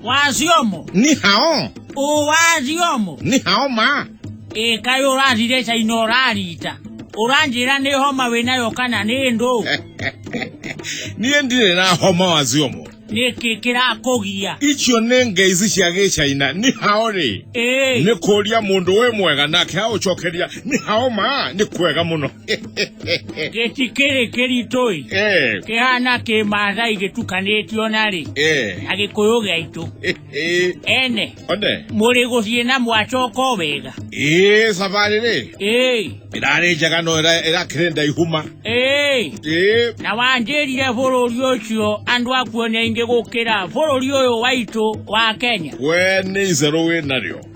wazio mo ni hao o wazio mo ni hao ma e kayo ũrathire caina ũrarita ũranjĩra nĩ homa wĩnayo kana nĩ ndũ niĩ ndirĩ na homa wazio mo nĩkĩ kĩrakũgia icio nĩ ngai ici cia gĩcaina nĩ hao rĩ ĩĩ nĩ kũria mũndũ wĩ mwega nake aũcokeria nĩ hao ma nĩ kwega mũno gĩtikĩrĩ kĩritũĩ eh. kĩhana kĩmathai gĩtukanĩtio narĩ eh. na gĩkũyũ gĩaitũ eh, ene mũrĩ gũthiĩ na mwacoka o wega ĩĩ thabarĩ rĩ ĩrarĩ njega no ĩrakĩrĩ ndaihuma na wanjĩrire bũrũri ũcio andũ akuo nĩ aingĩ gũkĩra bũrũri ũyũ waitũ wa kenya we nĩ icerũ wĩ narĩo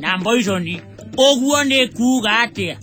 na mboiconi ũguo nĩ kuuga atĩa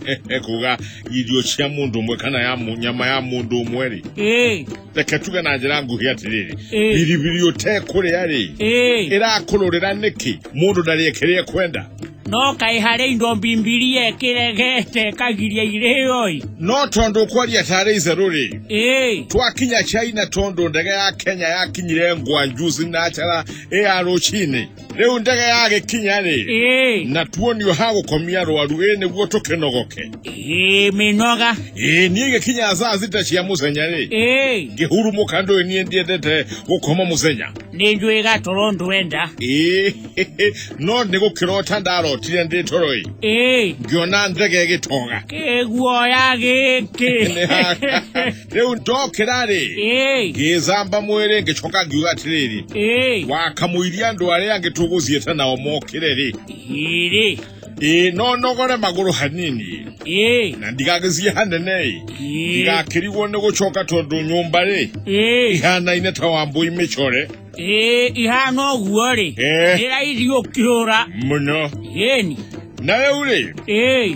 kuga irio cia mũndũ ũmwe kana ya mu- nyama ya mũndũ ũmwe rĩ ĩĩ reke tuge na njĩra nguhĩ atĩrĩrĩ Ĩĩ. biribiri ũtekũrĩa rĩ ĩĩ ĩrakũrũrĩra nĩkĩ mũndũ ndarĩe kĩrĩa ekwenda no kaĩ harĩ indo mbimbiria ĩkĩregete kagiria irĩoi no tondũ ũkwaria tarĩ itherũ rĩ ĩĩ twakinya china tondũ ndege ya kenya yakinyire ngwanjuzi na njara ĩya rũcinĩ rĩu ndege yagĩkinya-rĩ Ĩĩ. na tuonio ha gũkomia rwaru ĩ nĩguo tũkĩnogoke Ĩĩ, mĩnoga ĩ niĩ gĩkinya saa sita cia mũthenya-rĩ Ĩĩ. ngĩhurumũka ndũĩ niĩ ndiendete gũkoma mũthenya nĩ njũĩ gatoro ndwenda ĩ no nĩ gũkĩrota ndarotire ndĩ toro-ĩ Ĩĩ. ngĩona ndege ĩgĩtoga kĩguoya gĩkĩ Nĩ haka. rĩu ndokĩra rĩ Ĩĩ, ngĩĩthamba mwĩrĩ ngĩcoka ngiuga atĩrĩrĩ ĩĩ, wakamũiria andũ arĩa angĩ tũgũthiĩte nao mokĩre rĩ ĩrĩ, ĩĩ no nogore magũrũ hanini ĩĩ, na ndigagĩthiĩ hanene ĩ ĩĩ, ndigakĩrigwo nĩ gũcoka tondũ nyũmba rĩ ĩĩ, ihanaine ta wambũi mĩcore ĩĩ, ihana ũguo rĩ, Eh. nĩ raithi ũkĩũra, mũno ĩni, na rĩu rĩ ĩĩ,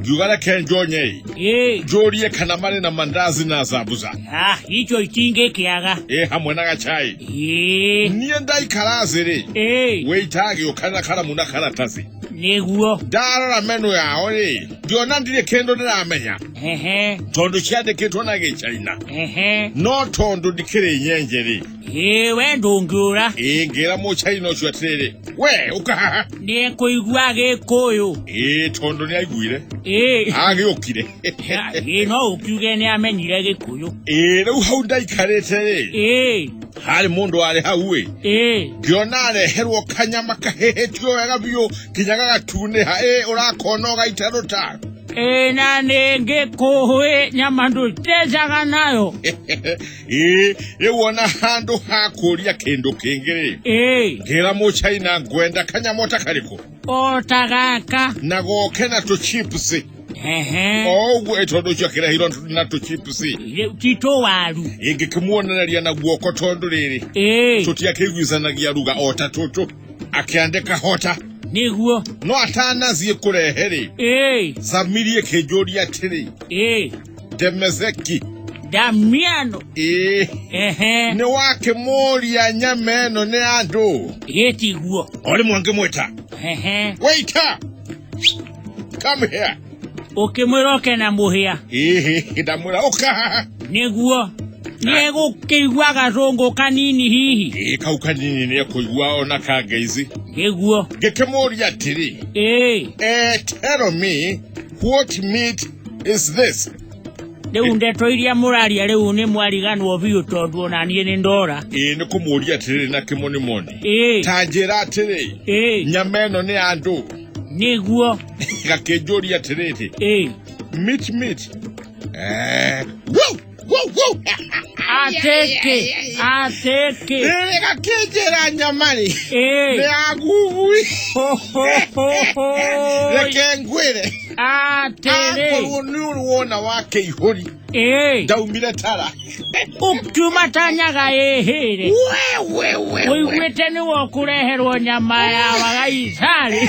njuga reke njonyei Eh, njũrie kana marĩ na mandazi na zambuza ah, icho itingĩkĩaga. ĩ hamwe na gacai Eh, niĩ ndaikara thĩ-rĩ eh, wĩita agĩũka na karamu na karatathi nĩguo. ndarora menu yao-rĩ ngĩona ndirĩ kĩndũ ndĩramenya Ehe, tondũ ciandĩkĩtwo na gĩcaina ehe. no tondũ ndikĩrĩ nyenje-rĩ iwe ndũngĩũra ingĩra mũcaina ũcio atĩrĩrĩ we ũka haha nĩ kũigua gĩkũyũ ĩĩ tondũ nĩ aiguire ĩĩ agĩũkire Ya- ĩĩ no ũkiuge nĩ amenyire gĩkũyũ ĩĩ rĩu hau ndaikarĩte rĩ ĩĩ harĩ mũndũ warĩ hau ĩ ĩĩ ngĩona areherwo kanyama kahĩhĩtio wega biũ nginya gagatunĩha ĩĩ ũrakona ũgaita rũta ĩĩ na nĩ ngĩkũhũĩ nyama ndũtecaga nayo ĩ rĩu ona handũ ha kũria kĩndũ kĩngĩ-rĩ ĩĩ ngĩra mũchaina ngwenda kanyamo ta karĩkũ o ta gaka na goke na tũchips ehe o ũguo ĩ tondũ ũcio akĩrehirwo na tũchips Rĩu ti tũwaru ingĩkĩmuonereria na guoko tondũ rĩrĩ ĩĩ tũtiakĩiguithanagia ruga o ta tũtũ akĩandĩka hota nĩguo no atanathiĩ kũrehe-rĩ ĩĩ samirie kĩnjũria atĩrĩ ĩĩ ndemezeki damiano ĩĩ ehe nĩ wakĩmũria nyama ĩno nĩ andũ yetiguo o rĩmwe ngĩmwĩta ehe waita come here ũkĩmwĩra oke na mũhĩa ĩĩ ndamwĩra ũka haha nĩguo nĩgũkĩigua gacũngũ kanini hihi ĩĩ kau kanini nĩ ekũigua ona kangeizi nĩguo ngĩkĩmũria atĩrĩ ĩĩ eh, tell me What meat is this? rĩu ndeto iria mũraria rĩu nĩ mwariganwo biũ tondũ ona niĩ nĩ ndora ĩĩ nĩ kũmũria atĩrĩrĩ na kĩmonimoni ĩĩ ta njĩra atĩrĩ ĩĩ nyama ĩno nĩ ya andũ nĩguo gakĩnjũria atĩrĩrĩ ĩĩ meat meat eh, woo! Ateke, ateke. Rega kĩnjĩra nyamari. Ĩĩ. Nĩ ya ngugui. Ho, ho, ho, ho. Reke ngwĩre. Atĩrĩ. Akorwo nĩ ũrĩ wona wa kĩihũri. Ĩĩ. Ndaumire tara. Ũkiuma tanyaga ĩhĩre. Ũiguĩte nĩ wokũreherwo nyama ya wagaicari.